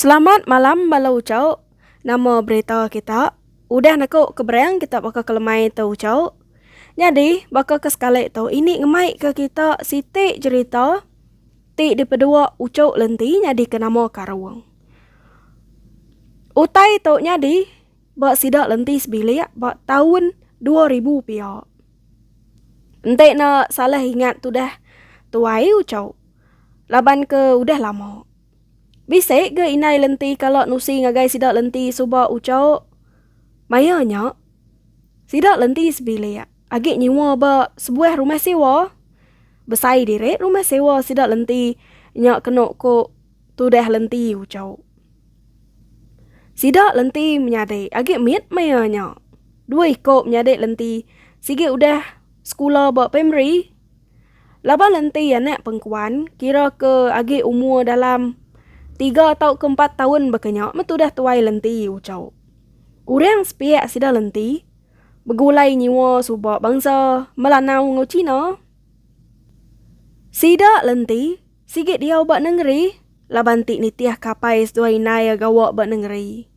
Selamat malam bala uchauk. Nama berita kita? Udah naku ke berang kita baka ke lemai tu uchauk. Nyadi baka ke sekali tu ini ngemaika kita siti jerita. Ti dipedua uchu lenti nyadi ke nama Karung. Utai tu nyadi ba sida lenti sebilik ba taun dua ribu pia. Enti ne salah ingat tudah tuai uchu laban ke udah lama. Bisi ga indai lenti kala nusi ngagai sida lenti suba uchu maya nya sida lenti sebilik. Agi nyewa ba sebuah rumah sewa. Besai diri rumah sewa sida lenti nya kenu ku tudah lenti uchu. Sida lenti menyadi agi mit maya nya. Dua iku menyadi lenti sigi udah sekula ba primari. Laban lenti anak pengkuan kira ke agi umur dalam tiga tauka empat taun baka nya metudah tuai lenti uchu. Orang sepiak sida lenti. begulai nyua suba bangsa Melanau enggau China. Sida lenti sigi diau ba nengeri laban ti nitih kapai seduai indai iya gawa ba nengeri.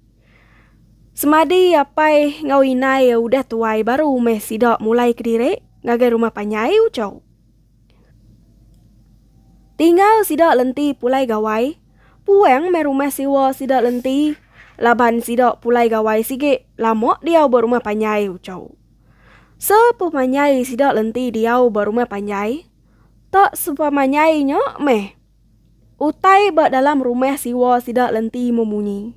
Semadi apai enggau indai iya udah tuai baru meh sida mulai kediri ngagai rumah panjai uchu. Tinggal sida lenti pulai gawai, puang meh rumah siwa sida lenti laban sida pulai gawai sigi lama diau ba rumah panjai, uchau. Sepemanyai sida lenti diau ba rumah panjai, tak sepemanyai nya meh utai ba dalam rumah siwa sida lenti memunyi.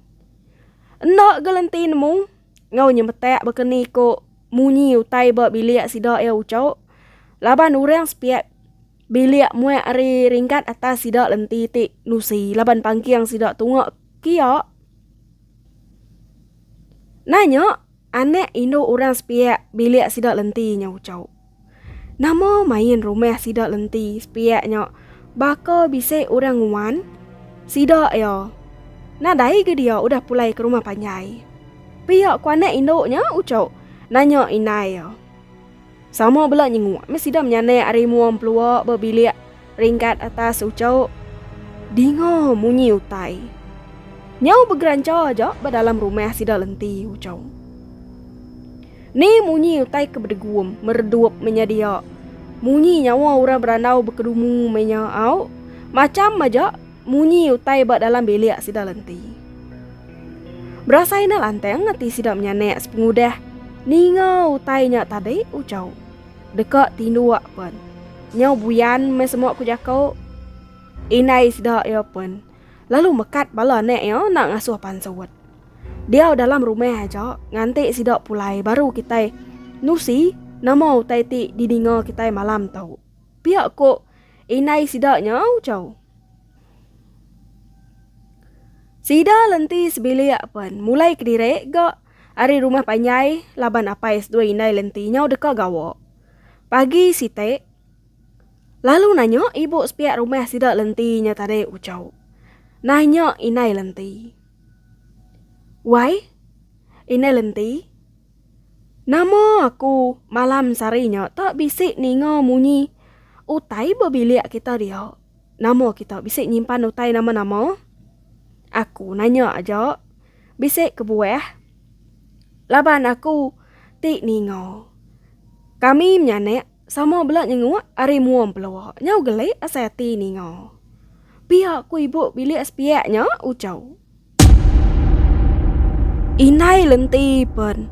Enda gelenti nemu. enggau nyemetak baka ni ko munyi utai ba bilik sida iya ucok laban urang sepiak bilik muak ari ringkat atas sida lenti ti nusi laban pangking sida tunga kia nanya anak indu urang sepiak bilik sida lenti nya ucok. Nama main rumah sida lenti sepiak nya baka bisi orang nguan sida ya. Nadai ga dia udah pulai ke rumah panjai. Pia ku anak indu nya ucuk nanya indai iya. Sama bela nyenguk meh sida menyanak ari mua empelua ba bilik. Ringgat atas ucuk. Dinga munyi utai. Nyau begeranca aja ba dalam rumah sida lenti ucuk. Ni munyi utai ke bedegum, meredup menya dia. Munyi nyawa orang berandau bekedumu menya au. Macham aja munyi utai ba dalam bilik sida lenti. Berasai enda lantang ati sida menyanak sepengudah ninga utai nya tadi ucuk. Deka tinduk pen. Nyau buyan meh semua ku jako. Indai sida iya pen. Lalu mekat bala anak iya enda ngasuh pansut. Diau dalam rumah aja nganti sida pulai baru kitai nusi nama utai ti dininga kitai malam tu. Pia ku indai sida nya ujau. Sida lenti sebilik pen mulai kediri ga. ari rumah panjai laban apai seduai indai lenti nyau deka gawa. Pagi siti, lalu nanya ibu sepiak rumah sida lenti nya tadi uchau. Nanya indai lenti. Wai, indai lenti, nama aku malam sari nya tak bisi ninga munyi utai ba bilik kita dia? Nama kita bisi nyimpan utai nama-nama? Aku nanya aja. Bisi kebuah laban aku ti ninga. Kami menyanak sama bela nyenguk ari mua empelua nyau gelik asai ati ninga. Pia ku ibu bilik sepiak nya uchau. Indai lenti pen.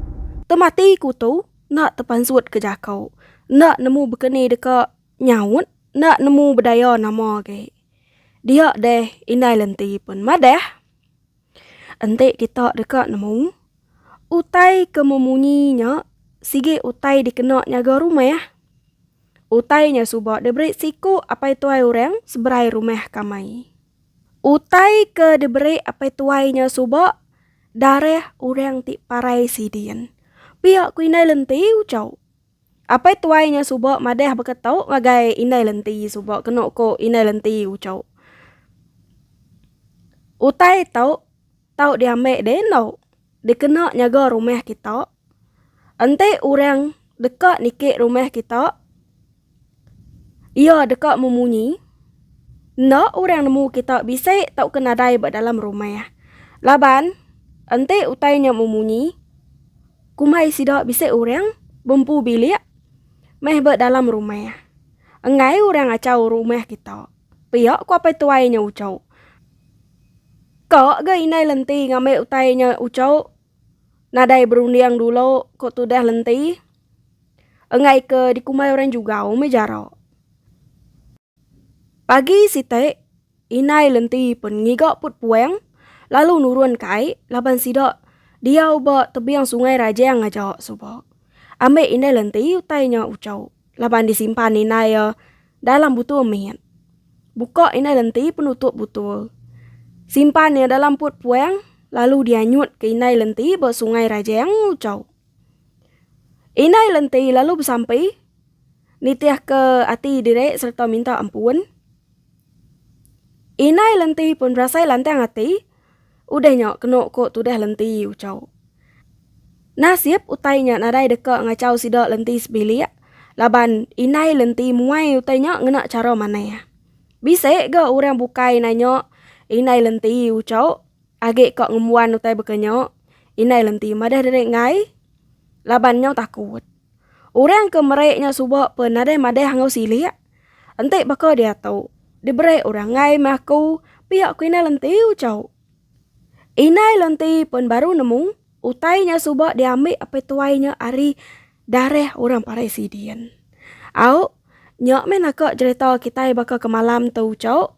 Temati ku tu enda tepansut ke jako. Enda nemu bekeni deka nyaut, enda nemu bedaya nama agi. Dia deh indai lenti pen madah. Enti kita deka nemu utai ke memunyi nya sigi utai dikena nyaga rumah. Utai nya suba diberi siku apai tuai orang seberai rumah kamai. Utai ke diberi apai tuai nya suba darah orang ti parai sidin. Pia ku indai lenti ucau. Apai tuai nya suba madah baka tau ngagai indai lenti suba kenu ko indai lenti ucau. Utai tau tau diambai deh endo dikena nyaga rumah kita enti orang deka niki rumah kita. Iya deka memunyi, Enda orang nemu kita bisi tauka nadai ba dalam rumah. Laban, enti utai nya memunyi, kumbai sida bisi orang bempu bilik meh ba dalam rumah. Enggai orang achau rumah kita. Pia ku apai tuai nya uchu. Ka ga indai lenti ngambi utai nya uchu. nadai berunding dulu ko tudah lenti enggai ke dikumbai orang jugau meh jarak. Pagi siti indai lenti pun ngiga put puang lalu nurun ka ai laban sida diau ba tebing sungai rajang aja suba. Ambek indai lenti utai nya uchu laban disimpan indai iya dalam butul mit. Buka indai lenti penutup butul. Simpan iya dalam put puang lalu dianyut ke indai lenti ba sungai rajang ngucau. Indai lenti lalu besampi nitih ke ati diri serta minta ampun. Indai lenti pun berasai lantang ati. Udah nya kenu ko tudah lenti uchau. Nasib utai nya nadai deka ngachau sida lenti sebilik laban indai lenti muai utai nya ngena chara manah. Bisi ga orang bukai nanya indai lenti uchau agi ka ngembuan utai baka nya indai lenti madah diri enggai laban nyau takut. Orang ke meri nya suba pun nadai madah enggau silik. Enti baka diatu, diberi orang ngai meh aku pia ku Indai Lenti ucau. Indai Lenti pun baru nemu utai nya suba diambi apai tuai nya ari darah orang parai sidin. Au, nya meh naka jerita kitai baka kemalam tu ucau.